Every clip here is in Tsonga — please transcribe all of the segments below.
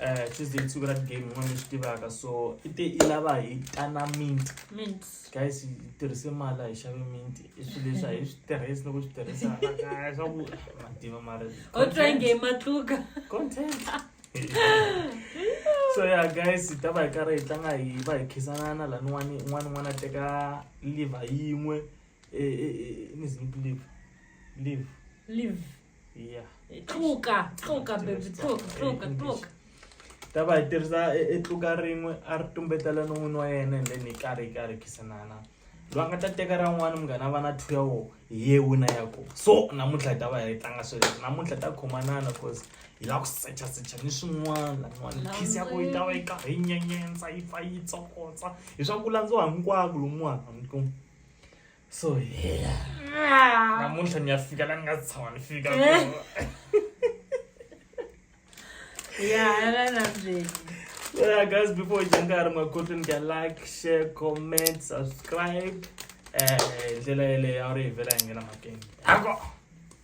eh, tuesday i siku ra game n'wana swi tivaka so i te i lava hi tana mint mint guys hi tirhise mali hi xave mint i swilo leswi a hi swi tirhisi loko swi tirhisa kaya swa ku mativa mari o try nge matluka content so ya guys hi ta va hi karhi hi tlanga hi va hi khisanana laniwani un'wana un'wana a teka liver yin'we e, e, e, ni zingi live live live ya tluka tluka baby tluka tluka tluka ta va hi tirhisa e, e tluka rin'we a ri tumbetela no n'wini wa yena and then hi karhi hi karhi khisanana loyi a nga ta teka ra n'wana munghana a va na two ya wo hi ye wina ya ko so namuntlha hi ta va hi tlanga sweleswo namuntlha hi ta khomanana cause hi lava ku secha secha ni swin'wana laniwani khisi ya ko yi ta va yi karhi yi nyenyentsa yi pfa yi tsokotsa hi swa ku landziwa hinkwako lomuwana mi kuma so heya namuntlha ni ya fika la ni nga tshama ni fika Yeah, guys, before we jump out of my cotton, get like, share, comment, subscribe. Eh, ndlela yeleyo a wu ri hi vela hi nghena makenge. Ako!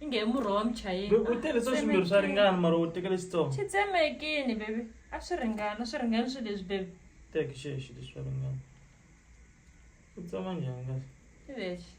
i nge murhi wa muchayeni Babe, u tele swa swimbirhi swa ringana mara u tekele xitsongo xi tsemekini bebi a swi ringana swi ringani swi leswi bebi teki xexi leswi swa ringana u tsema njhani kahle i lexi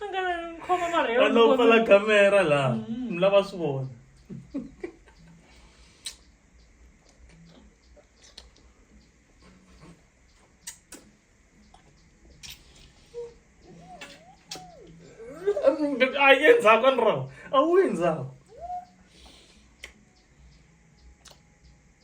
a nga lavi n'wi khoma marhe a lo pfala kamera laha mi lava swi vona a yi endzhaku a ni rawu a wu endzhaku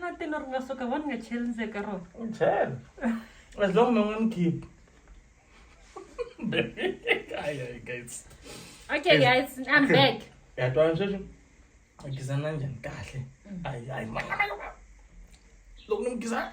na tino ri nga suka va ni nga cheli ndzeni ka rona u chela as long mi nga ni khiphi okay guys i'm back yatwana sweswi a gizana njhani kahle mm. ayi ayi loko ni mi gizana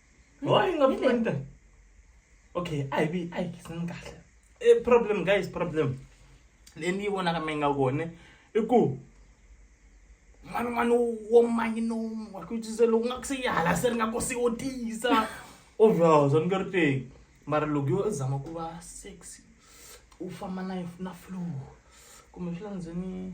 why nga pfuni ta okay a hi vi a hi khisini kahle i e, problem guys problem leyi ni yi vonaka mi nga kone i ku n'wana n'wana wo manyi no wa ku tise loko nga ku se yi hala se ri nga kosi wo tiyisa ovhozo ni nge ri teki mara loko yo i zama ku va sexy u famba na na flow kumbe swi landzeni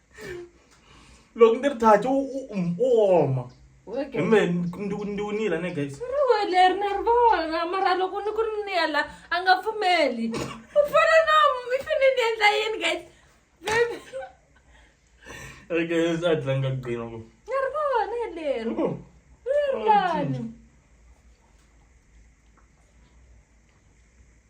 loko ni ri thathi u u- um, u oma Okay. hi me ndi- ndi winile ne guys Riwe leri na ri vona mara loko ni ku ri ni yala a nga pfumeli u fana na mi fane ni endla yini guys Baby, Hey, guys a tlanga gqina ku na ri vona leri Oh, ri lani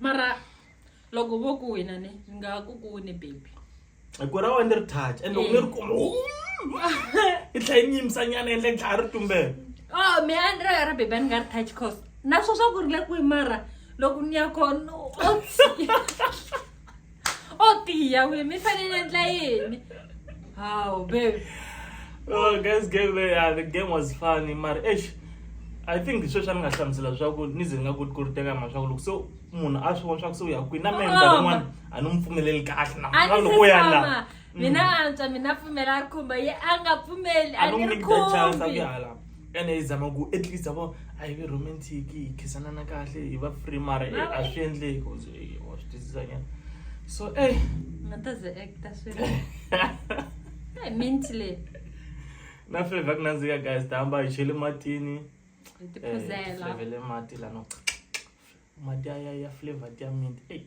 mara loko vo ku wena ne ni nga ku ku ne baby ku ra wena ni ri touch and loko ni ri kuma i tlhela yi nyimisa nyana endla yi tlhaya ri tumbela o oh, me a ni ra ra baby a ni nga ri touch cause na swo swa ku ri le kwihi mara loko ni ya kona o o tiya wi mi fanele endla yini hawu babe oh guys game le yeah, the game was funny mara eish i think sweswi a ni nga hlamusela leswaku ni ze ni nga koti ku ri teka mhaka swaku loko se munhu a swi vona swaku se u ya kwini na mehe minkarhi yin'wana a ni n'wi pfumeleli kahle na loko u ya laha mina antswa mina pfumela a ri khumba ye a nga pfumeli a ni ri khumbi ene hi zama ku at least avo a hi vi romantic hi khisanana kahle hi va free mara a swi endleki wa swi twisisanyana so e nga ta ze acta swi e minti leyi na fleva ku nandzika guys ta hamba hi chele matini tiphuzela eh, mati lano mati ya ya flavor ya mint eyi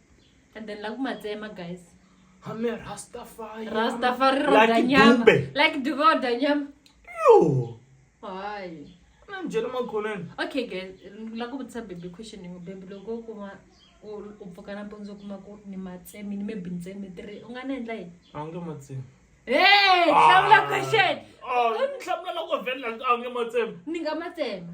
and then la ku ma tsema guys I'm a Rastafari. Rastafari Like roda nyama. Dube. Like Dube roda nyama. Yo. Hayi. Na mjela makhoneni. Okay guys, la ku vutisa baby question yin'we baby loko u kuma u u pfuka nampundzu u kuma ku ni matsemi ni maybe ntsemi three u nga ni endla yini? A wu nge ma tsemi. Hey, hlamula question. Oh, ni hlamula loko vhela a wu nge ma tsemi. Ni nga ma tsema.